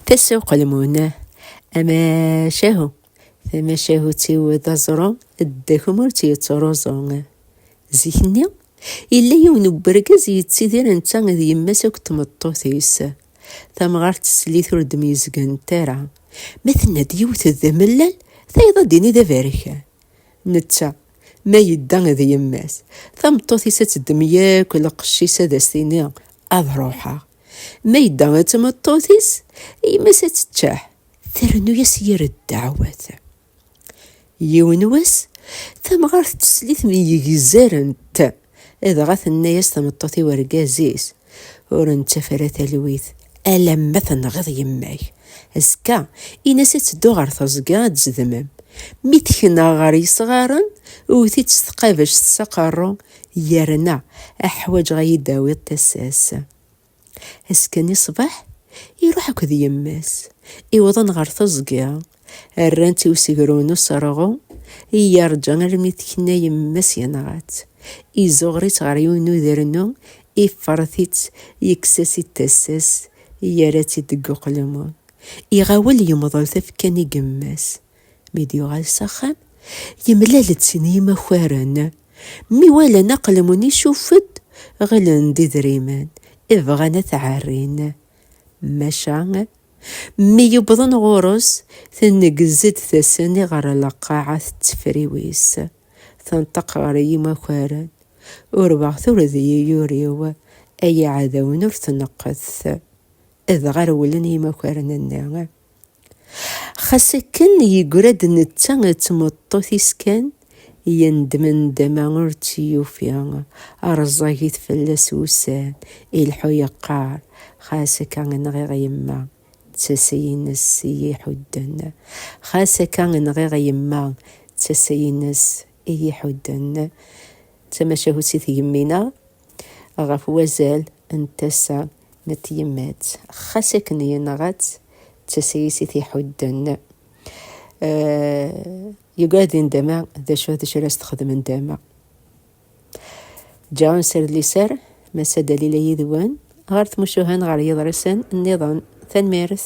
Tasuqelmun, amacahu, tamacahut-iw d aẓru, ddehum ur tt-yettruẓu. Zik-nni, yella yiwen n urgaz yettidir netta d yemma-s akked tmeṭṭut-is. Tamɣart teslit ur d-myezgent ara. Ma tenna-d yiwet d amellal, tayeḍ ad d-tini d aberkan. Netta, ma yedda d yemma-s, tameṭṭut-is ad teddem yakk lqecc-is ad as-tini ad ruḥeɣ. Ma yedda d tmeṭṭut-is, yemma-s ad teččeḥ, ternu-as yir ddeɛwat. Yiwen wass, tamɣart teslit myegzarent, dɣa tenna-yas tmeṭṭut i urgaz-is, ur nettaf ara talwit, alamma tenɣiḍ yemma-k. Azekka, in-as ad teddu ɣer teẓgi ad d-zedmem. Mi tekna ɣer yesɣaren, wwet-itt s tqabact s aqerru, Yerna ḥwaǧeɣ a yi-d-tawiḍ tasa-s. Askani ṣṣbeḥ, iruḥ akked yemma-s. Iwḍen ɣer teẓgi, rran-tt i usegru n userɣu, i yerǧa almi tekna yemma-s yenɣa-tt. Izuɣer-itt ɣer yiwen n udernu, ifret-itt, yekkes-as-id tasa-s, yerra-tt-id deg uqelmun. Iɣawel yemḍel tafekka-nni n yemma-s. Mi d-yuɣal s axxam, yemlal-d sin n yimakaren. Mi walan aqelmun icuf-d, ɣilen d idrimen i bɣan ad t-ɛerrin. Maca mi yewwḍen ɣur-s, tneggez-d tasa-nni ɣer lqaɛa d tefriwis. Tenṭeq ɣer yimakaren, Urweɣ tura d yiyur-iw, ay iɛdawen ur tneqqet! Dɣa rewlen yimakaren-nni. Xas akken yeggra-d netta d tmeṭṭut-is kan, yendem ndama ur tt-yufi, rẓagit fell-as wussan, ileḥḥu yeqqar, Xas akka nɣiɣ yemma, d tasa-ines i yi-iḥudden. Xas akka nɣiɣ yemma, d tasa-ines i yi-iḥudden. D tamacahut i tgemmi-neɣ. ɣef wazal n tasa n tyemmat, xas akken yenɣa-tt d tasayis i t-iḥudden. Yugad i ndama d acu d acu ara s-texdem ndama. Ǧaɛun s adlisar, massa Dalila yid-wen, ɣer tmucuha n ɣer yiḍrisen nniḍen. Tanemmirt!